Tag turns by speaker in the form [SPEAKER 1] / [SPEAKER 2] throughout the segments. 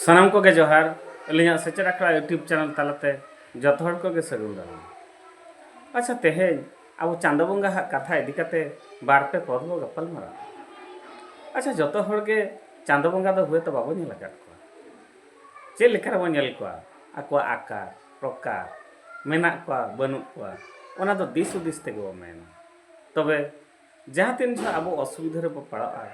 [SPEAKER 1] ᱥᱟᱱᱟᱢ ᱠᱚᱜᱮ ᱡᱚᱦᱟᱨ ᱟᱹᱞᱤᱧᱟᱜ ᱥᱮᱪᱮᱫ ᱟᱠᱷᱲᱟ ᱤᱭᱩᱴᱩᱵᱽ ᱪᱮᱱᱮᱞ ᱛᱟᱞᱟᱛᱮ ᱡᱚᱛᱚ ᱦᱚᱲ ᱠᱚᱜᱮ ᱥᱟᱹᱜᱩᱱ ᱫᱟᱨᱟᱢ ᱟᱪᱪᱷᱟ ᱛᱮᱦᱮᱧ ᱟᱵᱚ ᱪᱟᱸᱫᱚ ᱵᱚᱸᱜᱟ ᱦᱟᱜ ᱠᱟᱛᱷᱟ ᱤᱫᱤ ᱠᱟᱛᱮ ᱵᱟᱨ ᱯᱮ ᱯᱚᱫ ᱵᱚ ᱜᱟᱯᱟᱞ ᱢᱟᱨᱟᱣ ᱟᱪᱪᱷᱟ ᱡᱚᱛᱚ ᱦᱚᱲ ᱜᱮ ᱪᱟᱸᱫᱚ ᱵᱚᱸᱜᱟ ᱫᱚ ᱦᱳᱭᱛᱚ ᱵᱟᱵᱚ ᱧᱮᱞ ᱟᱠᱟᱫ ᱠᱚᱣᱟ ᱪᱮᱫ ᱞᱮᱠᱟ ᱨᱮᱵᱚ ᱧᱮᱞ ᱠᱚᱣᱟ ᱟᱠᱚᱣᱟᱜ ᱟᱠᱟᱨ ᱯᱨᱚᱠᱟᱨ ᱢᱮᱱᱟᱜ ᱠᱚᱣᱟ ᱵᱟᱹᱱᱩᱜ ᱠᱚᱣᱟ ᱚᱱᱟ ᱫᱚ ᱫᱤᱥ ᱦᱩᱫᱤᱥ ᱛᱮᱜᱮ ᱵᱚ ᱢᱮᱱᱟ ᱛᱚᱵᱮ ᱡᱟᱦᱟᱸ ᱛᱤᱱ ᱡᱚᱦᱚᱜ ᱟᱵᱚ ᱚᱥᱩᱵᱤᱫᱷᱟ ᱨᱮᱵᱚ ᱯᱟᱲᱟᱜᱼᱟ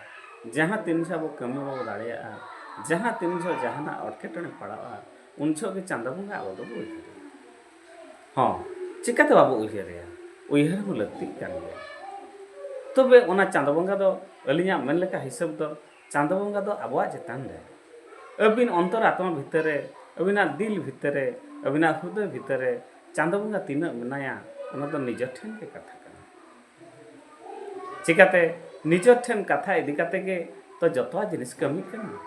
[SPEAKER 1] ᱡᱟᱦᱟᱸ ᱛᱤᱱ ᱡᱚᱦᱚᱜ ᱟᱵᱚ ᱠᱟᱹᱢᱤ ᱵᱟᱵᱚ ᱫᱟᱲᱮᱭᱟᱜᱼᱟ ᱡᱟᱦᱟᱸ ᱛᱤᱱ ᱡᱚᱦᱚᱜ ᱡᱟᱦᱟᱱᱟᱜ ᱮᱴᱠᱮᱴᱚᱬᱮ ᱯᱟᱲᱟᱜᱼᱟ ᱩᱱ ᱡᱚᱦᱚᱜ ᱜᱮ ᱪᱟᱸᱫᱚ ᱵᱚᱸᱜᱟ ᱟᱵᱚ ᱫᱚᱵᱚ ᱩᱭᱦᱟᱹᱨᱮᱭᱟ ᱦᱚᱸ ᱪᱤᱠᱟᱹᱛᱮ ᱵᱟᱵᱚ ᱩᱭᱦᱟᱹᱨᱮᱭᱟ ᱩᱭᱦᱟᱹᱨ ᱦᱚᱸ ᱞᱟᱹᱠᱛᱤᱜ ᱠᱟᱱ ᱜᱮᱭᱟ ᱛᱚᱵᱮ ᱚᱱᱟ ᱪᱟᱸᱫᱚ ᱵᱚᱸᱜᱟ ᱫᱚ ᱟᱹᱞᱤᱧᱟᱜ ᱢᱮᱱ ᱞᱮᱠᱟ ᱦᱤᱥᱟᱹᱵ ᱫᱚ ᱪᱟᱸᱫᱚ ᱵᱚᱸᱜᱟ ᱫᱚ ᱟᱵᱚᱣᱟᱜ ᱪᱮᱛᱟᱱ ᱨᱮ ᱟᱹᱵᱤᱱ ᱚᱱᱛᱚᱨ ᱟᱛᱢᱟ ᱵᱷᱤᱛᱟᱹᱨ ᱨᱮ ᱟᱹᱵᱤᱱᱟᱜ ᱫᱤᱞ ᱵᱷᱤᱛᱟᱹᱨ ᱨᱮ ᱟᱹᱵᱤᱱᱟᱜ ᱦᱩᱫᱟᱹ ᱵᱷᱤᱛᱟᱹᱨ ᱨᱮ ᱪᱟᱸᱫᱚ ᱵᱚᱸᱜᱟ ᱛᱤᱱᱟᱹᱜ ᱢᱮᱱᱟᱭᱟ ᱚᱱᱟ ᱫᱚ ᱱᱤᱡᱮ ᱴᱷᱮᱱ ᱜᱮ ᱠᱟᱛᱷᱟ ᱪᱤᱠᱟᱛᱮ ᱱᱤᱡᱚᱨ ᱴᱷᱮᱱ ᱠᱟᱛᱷᱟ ᱤᱫᱤ ᱠᱟᱛᱮ ᱜᱮ ᱛᱚ ᱡᱚᱛᱚᱣᱟᱜ ᱡᱤᱱᱤᱥ ᱠᱟᱹᱢᱤ ᱠᱟᱱᱟ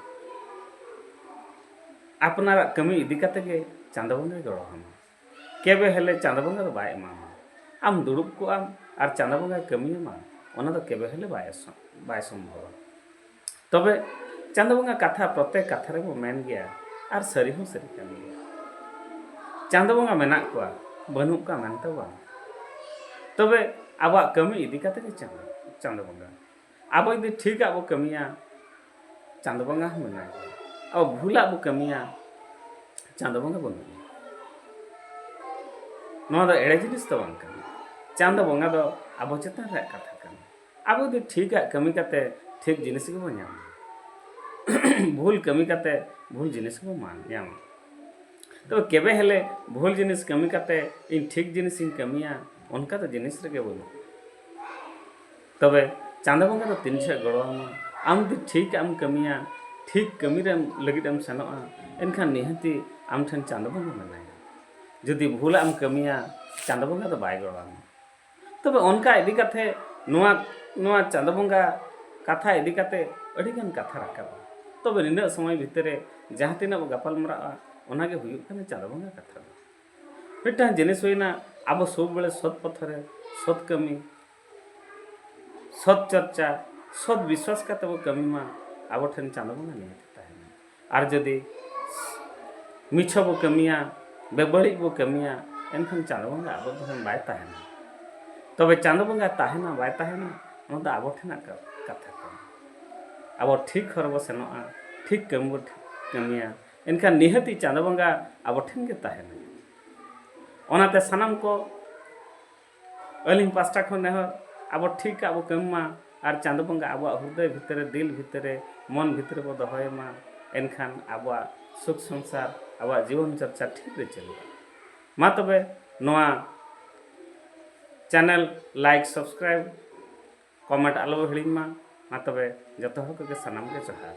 [SPEAKER 1] ᱟᱯᱱᱟᱨᱟᱜ ᱠᱟᱹᱢᱤ ᱤᱫᱤ ᱠᱟᱛᱮ ᱜᱮ ᱪᱟᱸᱫᱚ ᱵᱚᱸᱜᱟᱭ ᱜᱚᱲᱚ ᱟᱢᱟ ᱠᱮᱵᱮ ᱦᱮᱞᱮ ᱪᱟᱸᱫᱚ ᱵᱚᱸᱜᱟ ᱫᱚ ᱵᱟᱭ ᱮᱢᱟᱢᱟ ᱟᱢ ᱫᱩᱲᱩᱵ ᱠᱚᱜᱼᱟᱢ ᱟᱨ ᱪᱟᱸᱫᱚ ᱵᱚᱸᱜᱟᱭ ᱠᱟᱹᱢᱤᱭᱟᱢᱟ ᱚᱱᱟ ᱫᱚ ᱠᱮᱵᱮ ᱦᱮᱞᱮ ᱵᱟᱭ ᱵᱟᱭ ᱥᱚᱢᱵᱷᱚᱵᱟ ᱛᱚᱵᱮ ᱪᱟᱸᱫᱚ ᱵᱚᱸᱜᱟ ᱠᱟᱛᱷᱟ ᱯᱨᱚᱛᱮᱠ ᱠᱟᱛᱷᱟ ᱨᱮᱵᱚ ᱢᱮᱱ ᱜᱮᱭᱟ ᱟᱨ ᱥᱟᱹᱨᱤ ᱦᱚᱸ ᱥᱟᱹᱨᱤ ᱠᱟᱱ ᱜᱮᱭᱟ ᱪᱟᱸᱫᱚ ᱵᱚᱸᱜᱟ ᱢᱮᱱᱟᱜ ᱠᱚᱣᱟ ᱵᱟᱹᱱᱩᱜ ᱠᱚᱣᱟ ᱢᱮᱱᱛᱮ ᱵᱟᱝ ᱛᱚᱵᱮ ᱟᱵᱚᱣᱟᱜ ᱠᱟᱹᱢᱤ ᱤᱫᱤ ᱠᱟᱛᱮ ᱜᱮ ᱪᱟᱸᱫᱚ ᱪᱟᱸᱫᱚ ᱵᱚᱸᱜᱟ ᱟᱵᱚ ᱡᱩᱫᱤ ᱴᱷᱤᱠᱟᱜ ᱵᱚ ᱠᱟᱹᱢᱤᱭᱟ ᱪᱟᱸᱫᱚ ᱵᱚᱸᱜᱟ ᱦᱚᱸ ᱢᱮᱱᱟᱭ ᱜᱮᱭᱟ ᱟᱵᱚ ᱵᱷᱩᱞᱟᱜ ᱵᱚ ᱠᱟᱹᱢᱤᱭᱟ ᱪᱟᱸᱫᱚ ᱵᱚᱸᱜᱟ ᱵᱟᱹᱱᱩᱜ ᱜᱮᱭᱟ ᱱᱚᱣᱟ ᱫᱚ ᱮᱲᱮ ᱡᱤᱱᱤᱥ ᱫᱚ ᱵᱟᱝ ᱠᱟᱱᱟ ᱪᱟᱸᱫᱚ ᱵᱚᱸᱜᱟ ᱫᱚ ᱟᱵᱚ ᱪᱮᱛᱟᱱ ᱨᱮᱭᱟᱜ ᱠᱟᱛᱷᱟ ᱠᱟᱱᱟ ᱟᱵᱚ ᱡᱩᱫᱤ ᱴᱷᱤᱠᱟᱜ ᱠᱟᱹᱢᱤ ᱠᱟᱛᱮ ᱴᱷᱤᱠ ᱡᱤᱱᱤᱥ ᱜᱮᱵᱚ ᱧᱟᱢᱟ ᱵᱷᱩᱞ ᱠᱟᱹᱢᱤ ᱠᱟᱛᱮ ᱵᱷᱩᱞ ᱡᱤᱱᱤᱥ ᱵᱚ ᱧᱟᱢᱟ ᱛᱚᱵᱮ ᱠᱮᱵᱮ ᱦᱮᱞᱮ ᱵᱷᱩᱞ ᱡᱤᱱᱤᱥ ᱠᱟᱹᱢᱤ ᱠᱟᱛᱮ ᱤᱧ ᱴᱷᱤᱠ ᱡᱤᱱᱤᱥ ᱤᱧ ᱠᱟᱹᱢᱤᱭᱟ ᱚᱱᱠᱟ ᱫᱚ ᱡᱤᱱᱤᱥ ᱨᱮᱜᱮ ᱵᱟᱹᱱᱩᱜᱼᱟ ᱛᱚᱵᱮ ᱪᱟᱸᱫᱚ ᱵᱚᱸᱜᱟ ᱫᱚ ᱛᱤᱱ ᱡᱚᱦᱚᱜ ᱜᱚᱲᱚ ᱟᱢᱟ ᱟᱢ ᱡᱩᱫᱤ ᱴᱷᱤᱠᱟᱜ ᱮᱢ ᱠᱟᱹᱢᱤᱭᱟ ᱴᱷᱤᱠ ᱠᱟᱹᱢᱤ ᱨᱮ ᱞᱟᱹᱜᱤᱫ ᱮᱢ ᱥᱮᱱᱚᱜᱼᱟ ᱮᱱᱠᱷᱟᱱ ᱱᱤᱦᱟᱹᱛᱤ ᱟᱢ ᱴᱷᱮᱱ ᱪᱟᱸᱫᱚ ᱵᱚᱸᱜᱟ ᱢᱮᱱᱟᱭᱟ ᱡᱩᱫᱤ ᱵᱷᱩᱞᱟᱜ ᱮᱢ ᱠᱟᱹᱢᱤᱭᱟ ᱪᱟᱸᱫᱚ ᱵᱚᱸᱜᱟ ᱫᱚ ᱵᱟᱭ ᱜᱚᱲᱚ ᱟᱢᱟ ᱛᱚᱵᱮ ᱚᱱᱠᱟ ᱤᱫᱤ ᱠᱟᱛᱮ ᱱᱚᱣᱟ ᱱᱚᱣᱟ ᱪᱟᱸᱫᱚ ᱵᱚᱸᱜᱟ ᱠᱟᱛᱷᱟ ᱤᱫᱤ ᱠᱟᱛᱮ ᱟᱹᱰᱤ ᱜᱟᱱ ᱠᱟᱛᱷᱟ ᱨᱟᱠᱟᱵᱟ ᱛᱚᱵᱮ ᱱᱤᱱᱟᱹᱜ ᱥᱚᱢᱚᱭ ᱵᱷᱤᱛᱤᱨ ᱨᱮ ᱡᱟᱦᱟᱸ ᱛᱤᱱᱟᱹᱜ ᱵᱚ ᱜᱟᱯᱟᱞ ᱢᱟᱨᱟᱜᱼᱟ ᱚᱱᱟ ᱜᱮ ᱦᱩᱭᱩᱜ ᱠᱟᱱᱟ ᱪᱟᱸᱫᱚ ᱵᱚᱸᱜᱟ ᱠᱟᱛᱷᱟ ᱫᱚ ᱢᱤᱫᱴᱟᱝ ᱡᱤᱱᱤᱥ ᱦᱩᱭᱱᱟ ᱟᱵᱚ ᱥᱚᱵ ᱵᱮᱲᱮ ᱥᱚᱛ ᱯᱚᱛᱷᱚ ᱨᱮ ᱥᱚᱛ ᱠᱟᱹᱢᱤ ᱥᱚᱛ ᱪᱚᱨᱪᱟ ᱥᱚᱛ ᱵᱤᱥᱣᱟᱥ ᱠᱟᱛᱮ ᱵᱚ ᱠᱟᱹᱢᱤ ᱢᱟ ᱟᱵᱚ ᱴᱷᱮᱱ ᱪᱟᱸᱫᱚ ᱵᱚᱸᱜᱟ ᱱᱤᱦᱟᱹᱛ ᱟᱨ ᱡᱩᱫᱤ ᱢᱤᱪᱷᱟᱹ ᱵᱚ ᱠᱟᱹᱢᱤᱭᱟ ᱵᱮᱵᱟᱹᱲᱤᱡ ᱵᱚ ᱠᱟᱹᱢᱤᱭᱟ ᱮᱱᱠᱷᱟᱱ ᱪᱟᱸᱫᱚ ᱵᱚᱸᱜᱟ ᱟᱵᱚ ᱴᱷᱮᱱ ᱵᱟᱭ ᱛᱟᱦᱮᱱᱟ ᱛᱚᱵᱮ ᱪᱟᱸᱫᱚ ᱵᱚᱸᱜᱟ ᱛᱟᱦᱮᱱᱟ ᱵᱟᱭ ᱛᱟᱦᱮᱱᱟ ᱚᱱᱟ ᱫᱚ ᱟᱵᱚ ᱴᱷᱮᱱᱟᱜ ᱠᱟᱛᱷᱟ ᱠᱟᱱᱟ ᱟᱵᱚ ᱴᱷᱤᱠ ᱦᱚᱨ ᱵᱚ ᱥᱮᱱᱚᱜᱼᱟ ᱴᱷᱤᱠ ᱠᱟᱹᱢᱤ ᱵᱚ ᱠᱟᱹᱢᱤᱭᱟ ᱮᱱᱠᱷᱟᱱ ᱱᱤᱦᱟᱹᱛᱤ ᱪᱟᱸᱫᱚ ᱵᱚᱸᱜᱟ ᱟᱵᱚ ᱴᱷᱮᱱ ᱜᱮ ᱛᱟᱦᱮᱱᱟ ᱚᱱᱟᱛᱮ ᱥᱟᱱᱟᱢ ᱠᱚ ᱟᱹᱞᱤᱧ ᱯᱟᱥᱴᱟ ᱠᱷᱚᱱ ᱱᱮᱦᱚᱨ ᱟᱵᱚ ᱴᱷᱤᱠ ᱟᱵᱚ ᱠᱟᱹᱢᱤ ᱢᱟ ᱟᱨ ᱪᱟᱸᱫᱚ ᱵᱚᱸᱜᱟ ᱟᱵᱚᱣᱟᱜ ᱦᱨᱫᱚᱭ ᱵᱷᱤᱛᱨᱤ ᱨᱮ ᱫᱤᱞ ᱵᱷᱤᱛᱨᱤ ᱨᱮ ᱢᱚᱱ ᱵᱷᱤᱛᱨᱤ ᱨᱮᱵᱚ ᱫᱚᱦᱚᱭᱮ ᱢᱟ ᱮᱱᱠᱷᱟᱱ ᱟᱵᱚᱣᱟᱜ ᱥᱩᱠ ᱥᱚᱝᱥᱟᱨ ᱟᱵᱚᱣᱟᱜ ᱡᱤᱵᱚᱱ ᱪᱚᱨᱪᱟ ᱴᱷᱤᱠ ᱨᱮ ᱪᱟᱹᱞᱩᱜᱼᱟ ᱢᱟ ᱛᱚᱵᱮ ᱱᱚᱣᱟ ᱪᱮᱱᱮᱞ ᱞᱟᱭᱤᱠ ᱥᱟᱵᱥᱠᱨᱟᱭᱤᱵ ᱠᱚᱢᱮᱱᱴ ᱟᱞᱚ ᱵᱚ ᱦᱤᱲᱤᱧ ᱢᱟ ᱢᱟ ᱛᱚᱵᱮ ᱡᱚᱛᱚ ᱦᱚᱲ ᱠᱚᱜᱮ ᱥᱟᱱᱟᱢ ᱜᱮ ᱡᱚᱦᱟᱨ